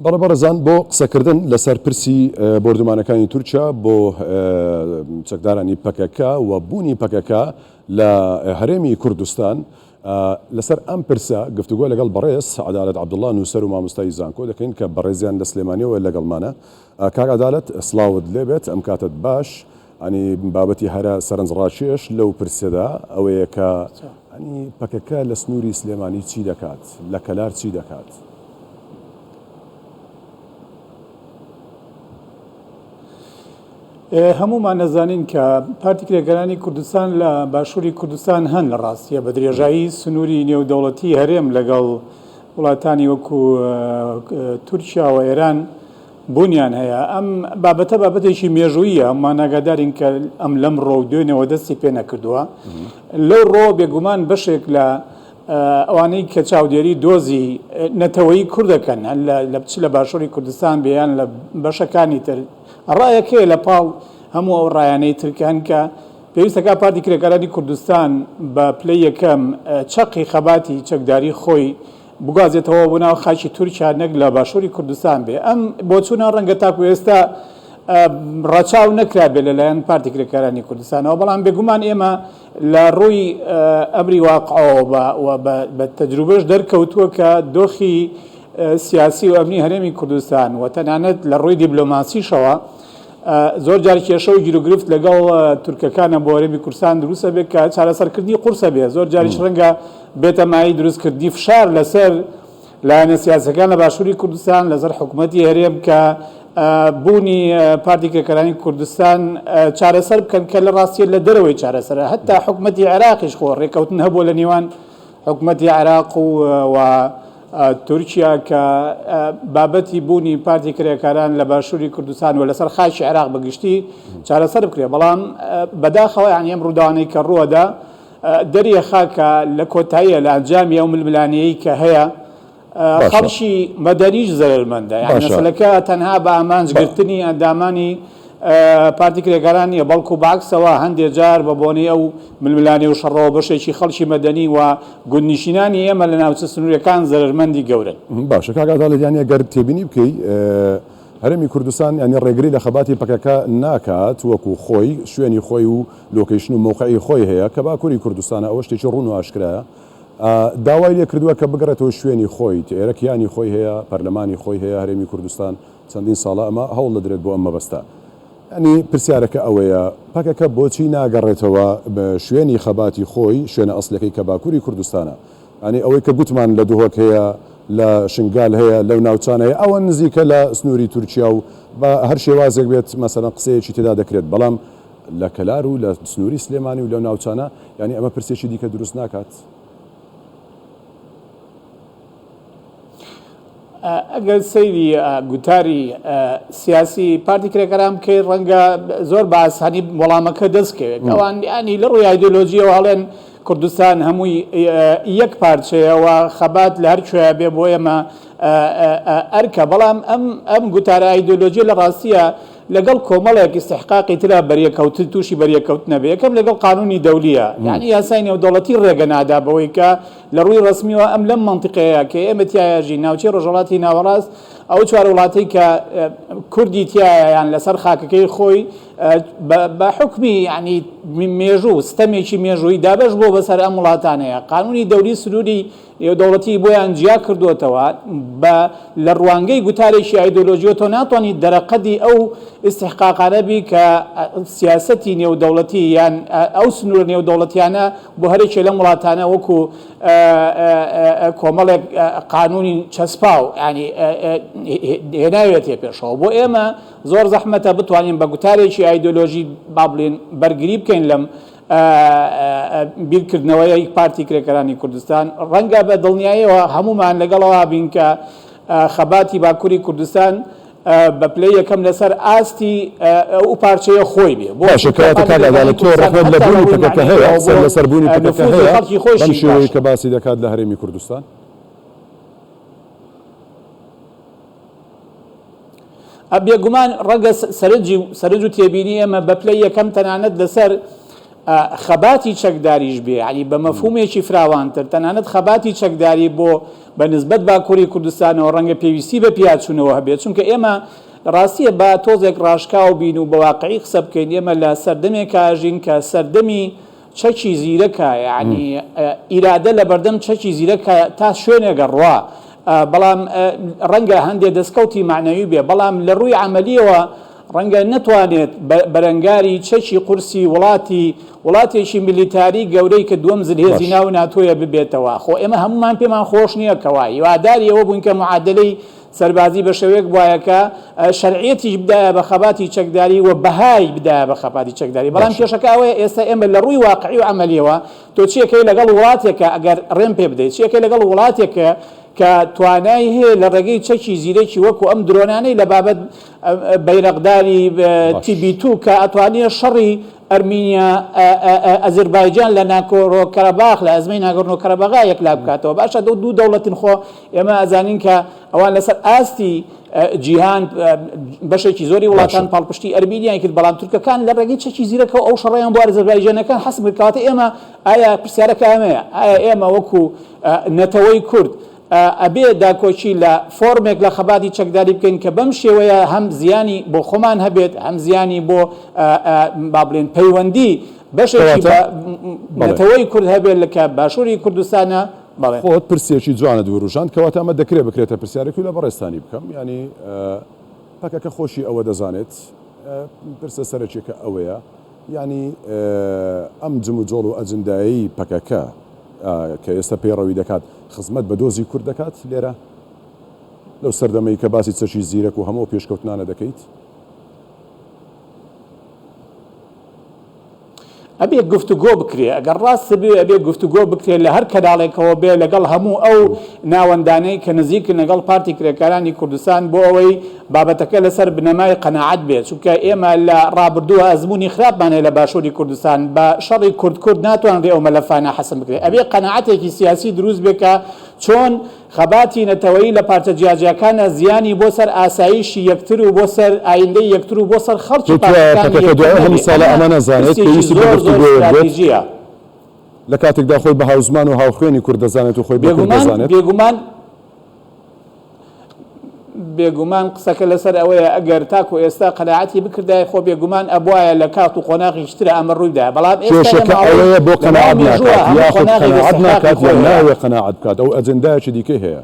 بەڵێ بەڕێزان بۆ قسەکردن لەسەر پرسی بۆردومانەکانی تورکیا بۆ چەکدارانی پەکەکە و بوونی پەکەکە لە هەرێمی کوردستان لەسەر ئەم پرسە گفتوگۆ لەگەڵ بەڕێز عدالت عبدالله نووسەر و مامۆستای زانکۆ دەکەین کە بەڕێزیان لە سلێمانیەوە لەگەڵمانە کاک عدالت سڵاوت لێبێت ئەم کاتت باش یانی بابەتی هەرە سەرنجڕاکێش لەو پرسەدا ئەوەیە کە یانی پەکەکە لە سنووری سلێمانی چی دەکات؟ لە کەلار چی دەکات؟ هەموومان دەزانین کە پارتی کرێکارانی کوردستان لە باشووری کوردستان هەن لە ڕاستیە بە درێژایی سنووری نێودەوڵەتی هەرێم لەگەڵ وڵاتانی وەکو تورکیا و ئێران بوونیان هەیە. ئەم بابەتە بابەتێکی مێژووییە، هەموومان ئاگادارین کە ئەم لەمڕۆ و دوێنێوە دەستی پێ نەکردووە. لەو ڕۆوە بێگومان بەشێک لە ئەوانەی کە چاودێری دۆزی نەتەوەی کورد دەکەن، چ لە باشووری کوردستان بێ یان لە بەشەکانی تر، ڕایەک هەیە لە پاڵ هەموو ئەو ڕایانەی تر کە هەن کە پێویست دەکات پارتی کرێکارانی کوردستان بە پلەی یەکەم چەقی خەباتی چەکداری خۆی بگوازێتەوە بۆ ناو خاکی تورکیا نەک لە باشوری کوردستان بێ ئەم بۆچونە ڕەنگە تاکو ئێستا ڕەچاو نەکرابێت لەلایەن پارتی کرێکارانی کوردستانەوە بەڵام بێگومان ئێمە لە ڕووی ئەمری واقعەوە و بە تەجروبەش دەرکەوتووە کە دۆخی سیاسی و ئەمنی هەرێمی کوردستان و تەنانەت لە ڕووی دیبلۆماسیشەوە زۆر جار کێشە و گیروگرفت لەگەڵ تورکەکانە بۆ هەرێمی کوردستان دروست ئەبێت کە چارەسەرکردنی قورس ئەبێت، زۆر جاریش ڕەنگە بێتە مایەی دروستکردنی فشار لەسەر لایەنە سیاسیەکان لە باشووری کوردستان لەسەر حکومەتی هەرێم کە بوونی پارتی کرێکارانی کوردستان چارەسەر بکەن کە لە ڕاستیە لە دەرەوەی چارەسەرە هەتا حکومەتی عێراقیش خۆ ڕێکەوتن هەبووە لە نێوان حکومەتی عێراق و و تورکیا کە بابەتی بوونی پارتی کرێکاران لە باشووری کوردستان و لەسەر خاکی عێراق بە گشتی چارەسەر بکرێت بەڵام بەداخەوە یان ئەم ڕووداوانەی کە ڕووەدا دەریەخا کە لە کۆتاییە لە ئەنجامی ئەو ململانێی کە هەیە خەڵکی مەدەنیش زەرەرمەندە، یانی مەسەلەکە تەنها بە ئامانج گرتنی ئەندامانی پارتی کرێکاران نییە، بەڵکو بە عەکسەوە هەندێ جار بە بۆنەی ئەو ململانێ و شەڕەوە بەشێکی خەڵکی مەدەنی و گوندنیشینانی ئێمە لە ناوچە سنووریەکان زەرەرمەندی گەورەن. باشە کاک ئازاد، یانی ئەگەر تێبینی بکەی هەرێمی کوردستان یانی ڕێگری لە خەباتی پەکەکە ناکات وەکو خۆی شوێنی خۆی و لۆکەیشن و مەوقعی خۆی هەیە کە باکوری کوردستانە ئەوە شتێکی ڕوون و ئاشکرایە، داوای لێکردووە کە بگەڕێتەوە شوێنی خۆی، تئێرە کیانی خۆی هەیە، پەرلەمانی خۆی هەیە، هەرێمی کوردستان چەندین ساڵە ئەمە هەوڵ دەدرێت بۆ ئەم مەبەستە. یانی پرسیارەکە ئەوەیە پەکەکە بۆچی ناگەڕێتەوە شوێنی خەباتی خۆی، شوێنە ئەسڵیەکەی کە باکوری کوردستانە. یانی ئەوەی کە گوتمان لە دهۆک هەیە، لە شنگال هەیە، لەو ناوچانە هەیە ئەوە نزیکە لە سنوری تورکیا و بە هەر شێوازێک بێت مەسەلەن قسەیەکی تێدا دەکرێت بەڵام لە کەلار و لە سنووری سلێمانی و لەو ناوچانە، یانی ئەمە پرسێکی دیکە دروست ناکات؟ ئەگەر سەیری گوتاری سیاسی پارتی کرێکاران بکەی ڕەنگە زۆر باس هەنی وەڵامەکە دەست کەوێت ئەوان ینی لە ڕووی ئایدۆلۆژیەوە هەڵێن کوردستان هەمووی یەک پارچەیەوە خەبات لە هەر کوێ بێ بۆ ئێمە ئەرکە بەڵام ئەم ئەم گوتارە ئایدۆلۆژیە لە ڕاستیە لەگەڵ کۆمەڵێک ئیستحقاقی ترا بەریەککەوتن تووشی بەریەککەوتن نەبێ یەکەم لەگەڵ قانوونی دەولیە یانی یاسای نێودەوڵەتی ڕێگە نادا بەوەی کە لە ڕووی ڕەسمیەوە ئەم لەم مەنتیقەیە کە ئێمە تیایا ژین ناوچەی ڕۆژهەڵاتی ناوەڕاست ئەو چوار وڵاتەی کە کوردی تیایا یان لەسەر خاکەکەی خۆی بە حکمی یعنی مێژوو ستەمێکی مێژووی دابەش بۆ بەسەر ئەم وڵاتانەیە قانوونی دەولی سنووری نێودەوڵەتی بۆیان جیا کردۆتەوە بە لە ڕوانگەی گوتارێکی ئایدۆلۆژیەوە تۆ ناتوانیت دەرەقەدی ئەو ئیستحقاقانە بی کە سیاسەتی نێودەوڵەتی یان ئەو سنوورە نێودەوڵەتیانە بۆ هەرێکێ لەم وڵاتانە وەکو کۆمەڵێک قانونی چەسپاو ینی هێناوێتێ پێشەوە بۆ ئێمە زۆر زەحمەتە بتوانین بە گوتارێکی ئایدۆلۆژی بابلین بەرگری بکەین لەم بیرکردنەوەی پارتی کرێکارانی کوردستان، ڕەنگە بە دڵنیایەوە هەموومان لەگەڵەوە بین کە خەباتی باکوری کوردستان بە پلەی یەکەم لەسەر ئاستی ئەو پارچەیە خۆی بێ، بۆ باشە کەواتە کاک عەدالەت تۆ ڕەخنەت لە بوونی پەکەکە هەیە، سەر لەسەر بوونی پەکەکە هەیە بەم شێوەیەی کە باسی دەکات لە هەرێمی کوردستان؟ ئە بێگومان ڕەگە سەرنجی و سەرنج و تێبینی ئێمە بە پلەی یەکەم تەنانەت لەسەر خەباتی چەکداریش بێ علی بە مەفهومێکی فراوانتر تەنانەت خەباتی چەکداری بۆ بە نسبەت باکووری کوردستانەوە ڕەنگە پێویستی بە پیاچوونەوە هەبێت چونکە ئێمە ڕاستیە بە تۆزێک ڕاشکاو بین و بەواقعی قسە بکەین ئێمە لە سەردەمێک کاژین کە سەردەمی چەکی زیرەکە یانی ئیرادە لەبەردەم چەکی زیرەکە تا شوێنێک ئەڕوا بەڵام ڕەنگە هەندێ دەستکەوتی مەعنەوی بێ بەڵام لە ڕووی عەمەلیەوە ڕەنگە نەتوانێت بەرەنگاری چەکی قورسی وڵاتی وڵاتێکی میلیتاری گەورەی کە دووەم زلهێزی باش. ناو ناتۆیە ببێتەوە خۆ ئێمە هەموومان پێمان خۆش نییە کەوا هیواداری ئەوە بووین کە معادەلەی سەربازی بە شێوەیەک بوایە کە شەرعیەتیش بدایە بە خەباتی چەکداری و بەهای بدایە بە خەباتی چەکداری بەڵام باشە کێشەکە ئەوەیە ئێستا ئێمە لە ڕووی واقعی و ئەمەلیەوە تۆ چیەکەی لەگەڵ وڵاتێکە ئەگەر ڕێم پێ بدەیت چیەکەی لەگەڵ وڵاتێکە کە توانای هەیە لە ڕێگەی چەکی زیرەکی وەکو ئەم درۆنانەی لە بابەت بەیرەقداری باش تیبی تو کە ئەتوانێ شەڕی ئەرمینیا، ئەزەربایجان لە ناکۆرۆ کەرەباخ لە ئەزمەی ناگۆرنۆ کەرەباغا یەکلا بکاتەوە باشە دەو دوو دەوڵەتن خۆ ئێمە ئەزانین کە ئەوان لەسەر ئاستی جیهان بەشێکی زۆری وڵاتان پاڵپشتی ئەرمینیای کرد بەڵام تورکەکان لە ڕێگەی چەکی زیرەکە ئەو شەڕیان بۆ ئەرزەربایجانەکان حەسم کرد کەواتە ئێمە ئایا پرسیارەکە ئەمەیە ئایا ئێمە وەکو نەتەوەی کورد ئەبێ داکۆکی لە فۆرمێک لە خەباتی چەکداری بکەین کە بەم شێوەیە هەم زیانی بۆ خۆمان هەبێت هەم زیانی بۆ با بڵێن پەیوەندی بەشێکی بە نەتەوەی کورد هەبێت لە کە باشووری کوردستانە بەڵێ خۆت پرسێکی جوانە دووروژان کەواتە ئەمە دەکرێت بکرێتە پرسیارێکی لە بەڕێستانی بکەم ینی پەکەکە خۆشی ئەوە دەزانێت پرسە سەرەکیەکە ئەوەیە یەعنی ئەم جموجۆڵ و ئەجندایەی پەکەکە کە ئێستا پەیڕەوی دەکات خزمەت بە دۆزی کورد دەکات لێرە؟ لەو سەردەمەی کە باسی چەکی زیرەک و هەموو ئەو پێشکەوتنانە دەکەیت؟ ئەبێ گفتوگۆ بکرێ، ئەگەر ڕاستت بوێ ئەبێ گفتوگۆ بکرێ لە هەر کەناڵێکەوە بێ لەگەڵ هەموو ئەو ناوەندانەی کە نزیکن لەگەڵ پارتی کرێکارانی کوردستان بۆ ئەوەی بابەتەکە لەسەر بنەمای قەناعەت بێت، چونکە ئێمە لە ڕابردووە ئەزموونی خراپمان هەیە لە باشووری کوردستان، بە شەڕی کورد کورد ناتوانرێت ئەو مەلەفانە حەسم بکرێت، ئەبێت قەناعەتێکی سیاسی دروست بێت کە چۆن خەباتی نەتەوەیی لە پارچە جیاجیاکانە زیانی بۆ سەر ئاسایشی یەکتر و بۆ سەر ئایندەی یەکتر و بۆ سەر خەڵکی پارچەکانی یەکتر نەبێت، ئەمە پرسێکی زۆر زۆر ستراتیژییە. بێگومان بێگومان. بێگومان قسەکە لەسەر ئەوەیە ئەگەر تاکو ئێستا قەناعەتی بکردایە خۆ بێگومان ئەبوایە لە کات و قۆناغێکی ترا ئەمە ڕوویدایە بەڵام ئێستا لە کێشەکە ماوەی ئەوەیە بۆ لە ماوەی قەناعەت مێژووە ناکات هەموو یاخود قۆناغێک قەناعەت ئیستحقاقی ناکات خۆی یان هەیە نایەوێ قەناعەت بکات ئەو ئەجندایەکی دیکەی هەیە.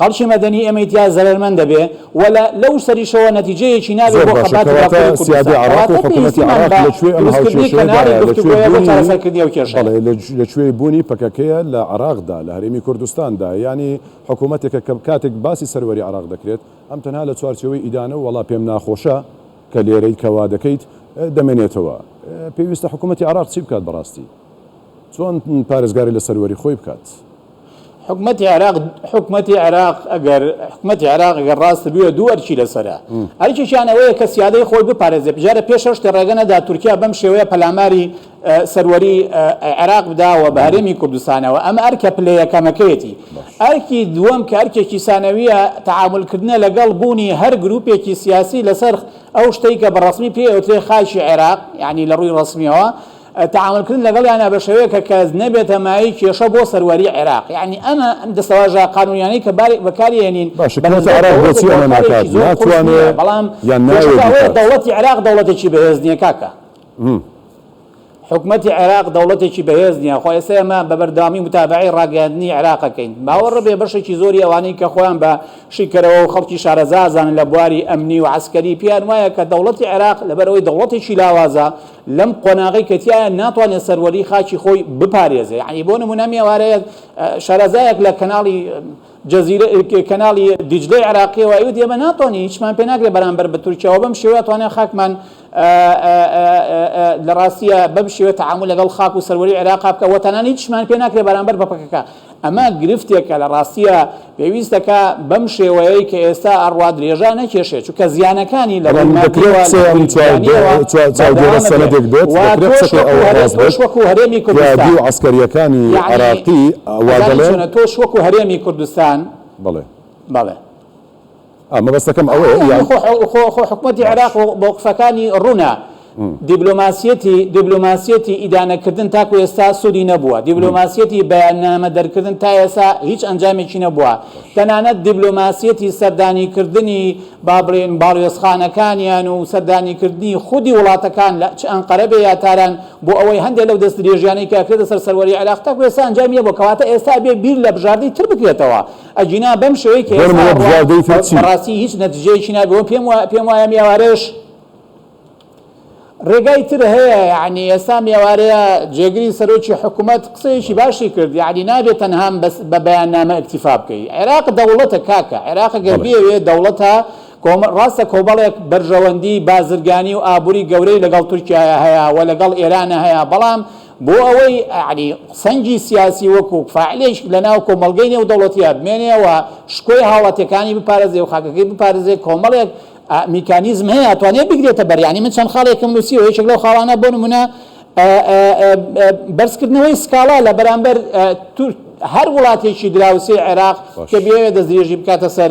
خەڵکی مەدەنی ئێمەی تیا زەرەرمەند دەبێ و لە لەو سەریشەوە نەتیجەیەکی نابێ زۆر بۆ باشە خەباتی کەواتە باکووری سیادەی کوردستان عێڕاق و کەواتە حکوومەتی پێویستیمان عێڕاق بە لە کوێ ئەم دروستکردنی هاوکێشەیە کەناری دایە لە کوێ گفتوگۆیە بۆ بوونی چارەسەرکردنی ئەو کێشەیە. بەڵێ لە لە کوێی بوونی پەکەکەیە لە عێڕاق دا لە هەرێمی کوردستان دا یانی حکوومەتێکە کە کاتێک باسی سەروەری عێڕاق دەکرێت ئەم تەنها لە چوارچێوەی ئیدانە و وەڵا پێم ناخۆشە کە لێرەی کە وا دەکەیت دەمێنێتەوە پێویستە حکوومەتی عێڕاق چی بکات بەڕاستی چۆن پارێزگاری لە سەروەری خۆی بکات؟ حکومەتی عێراق حکومەتی عێراق ئەگەر حکومەتی عێراق ئەگەر ڕاست بووە دوو ئەرکی لەسەرە ئەرکێکیان ئەوەیە کە سیادەی خۆی بپارێزێ بژارە پێش شتی ڕێگە نەدا تورکیا بەم شێوەیە پەلاماری سەروەری عێراق بداوە بە هەرێمی کوردستانەوە ئەمە ئەرکە پلە یەکەمەکەیەتی ئەرکی دووەم کە ئەرکێکی سانەویە تعاملکردنە لەگەڵ بوونی هەر گروپێکی سیاسی لەسەر ئەو شتەی کە بە ڕسمی پێوترێ خاکی عێراق یعنی لە ڕووی ڕسمیەوە تەعامولکردن لەگەڵیانا بە شێوەیەک کە کەس نەبێتە مایەی کێشە بۆ سەروەریی عێراق. یەعنی ئەمە دەستەواژە قانوونیانەی کە بارێک بەکاری ئەهێنین باشە بە حکومەتی نسبەت عێراق دەوڵەتێک بۆچی ئەمە واقعێکی ناکات؟ زۆر قورس ناتوانێ نییە، بەڵام یان نایەوێ کێشەکە ئەوەیە بیکات؟ دەوڵەتی عێراق دەوڵەتێکی بەهێز نییە کاکە. حکومەتی عێراق دەوڵەتێکی بەهێز نییە. خۆ ئێستا ئێمە بە بەردەوامی موتابەعەی ڕاگەیاندنی عێراق ئەکەین. باوەڕ بێ بەشێکی زۆری ئەوانەی کە خۆیان بە شیکەرەوە و خەڵکی شارەزا ئەزانن لە بواری ئەمنی و عەسکەری پێیان وایە کە دەوڵەتی عێراق لەبەر ئەوەی دەوڵەتێکی لاوازە، لەم قۆناغەی کە تیایە ناتوانێت سەروەری خاکی خۆی بپارێزێ یانی بۆ نمونە ئەم ئێوارەیە شارەزایەک لە کەناڵی جزیرە کەناڵی دیجلەی عراقیەوە ئەوت ئێمە ناتوانین هیچمان پێ ناکرێت بەرامبەر بە تورکیاەوە بەم شێوە توانێت خاکمان لە ڕاستیە بەم شێوە تعامل لەگەڵ خاک و سەروەری عێراقا بکە وەتەنانی هیچمان پێ ناکرێت بەرامبەر بە پەکەکە ئەمە گرفتێکە لە ڕاستییا پێویستە کە بەم شێوەیەی کە ئێستا ئەڕوات درێژا نەکێشێ چونکە زیانەکانی لە ڕووی مادیەوە لە ڕووی گیانیەوە بەردەوامە بێ و تۆش وەکو هەرێم تۆش وەکو هەرێمی کوردستان یەعنی ئەزانی چۆنە تۆش وەکو هەرێمی کوردستان بەڵێ بەڵێ. مەبەستەکەم ئەوەیە یان. خۆ حکومەتی عێراق مەوقفەکانی ڕوونە. دیبلۆماسیەتی دیبلۆماسیەتی ئیدانەکردن تاکو ئێستا سوودی نەبووە، دیبلۆماسیەتی بەیاننامە دەرکردن تا ئێسا هیچ ئەنجامێکی نەبووە، تەنانەت دیبلۆماسیەتی سەردانیکردنی با بڵێین باڵیۆزخانەکانیان و سەردانیکردنی خودی وڵاتەکان لە چ ئەنقەرە بێ یا تاران بۆ ئەوەی هەندێ لەو دەستدرێژیانەی کە ئەکرێتە سەر سەروەری عێراق تاکو ئێستا ئەنجامی نەبووە کەواتە ئێستا ئەبێ بیر لە بژاردەی تر بکرێتەوە ئەگینا بەم شێوەی کە ئێستا ڕوات بەڕاستی هیچ نەتیجەیەکی نابێ و پێم پێم وایە میاوارێش ڕێگای تر هەیە یعنی ئێستا میێوارەیە جێگری سەرۆکی حکوومەت قسەیەکی باشی کرد یعنی نابێت تەنهام بەس بە بەیان نامە ئەکتیفا بکەی عێراق دەوڵەتە کاکە عێراق گەر بێوێ دەوڵەتە ڕاستە کۆمەڵێک بەرژەوەندی بازرگانی و ئابووری گەورەی لەگەڵ تورکایە هەیە و لەگەڵ ئێرانە هەیە بەڵام بۆ ئەوەی یەعنی سەنگی سیاسی وەکو فاعلێک لەناو کۆمەڵگەی نێودەوڵەتییە بمێنێ و شکۆی هاوڵاتییەکانی بپارێزێ و خاکەکەی بپارێزێ کۆمەڵێک میکانیزم هەیە ئەتوانێ بگرێتە بەر یەعنی من چەند خاڵێکم نووسیوە یەکێک لەو خاڵانە بۆ نموونە بەرزکردنەوەی سکاڵا لە بەرامبەر هەر وڵاتێکی دراوسێی عێراق کە بێوێ دەستدرێژی بکاتە سەر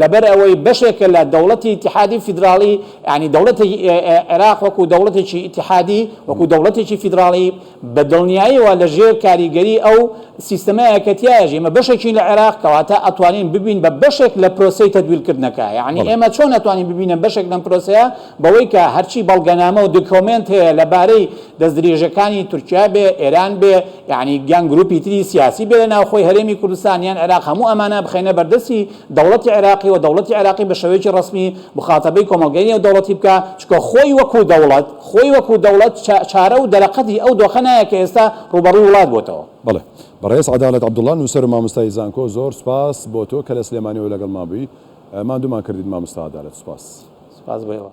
لەبەر ئەوەی بەشێکە لە دەوڵەتی ئیتیحادی فیدراڵی، یانی دەوڵەتی عێراق وەکوو دەوڵەتێکی ئیتیحادی، وەکوو دەوڵەتێکی فیدراڵی، بە دڵنیاییەوە لە ژێر کاریگەری ئەو سیستەمە یەکەتییایە ژی. ئێمە بەشێکین لە عێراق، کەواتە ئەتوانین ببین بە بەشێک لە پرۆسەی تەدویرکردنەکە. یانی ئێمە چۆن ئەتوانین ببینە بەشێک لەم پرۆسەیە؟ بەوەی کە هەرچی بەڵگەنامە و دکۆمێنت هەیە لە بارەی دەستدرێژەکانی تورکیا بێ، ئێران بێ، یانی یان گروپی تری سیاسی بێ لە ناوخۆی هەرێمی کوردستان یان عێراق هەموو ئەمانە بخەینە بەردەستی دەوڵەتی عێراقی و دەوڵەتی عێراقی بە شێوەیەکی ڕەسمی موخاتەبەی کۆمەڵگەی نێودەوڵەتی بکا چونکە خۆی وەکوو دەوڵەت خۆی وەکوو دەوڵەت چارە و دەرەقەتی ئەو دۆخە نایە کە ئێستا ڕووبەڕووی وڵات بۆتەوە. بەڵێ بەڕێز عەدالەت عەبدوڵا نوسەر و ماموستای زانکۆ زۆر سوپاس بۆ تۆ کە لە سلێمانیەوە لەگەڵمان بووی ماندوومان کردیت ماموستا عەدالەت سوپاس. سوپاس بۆ ئێوە.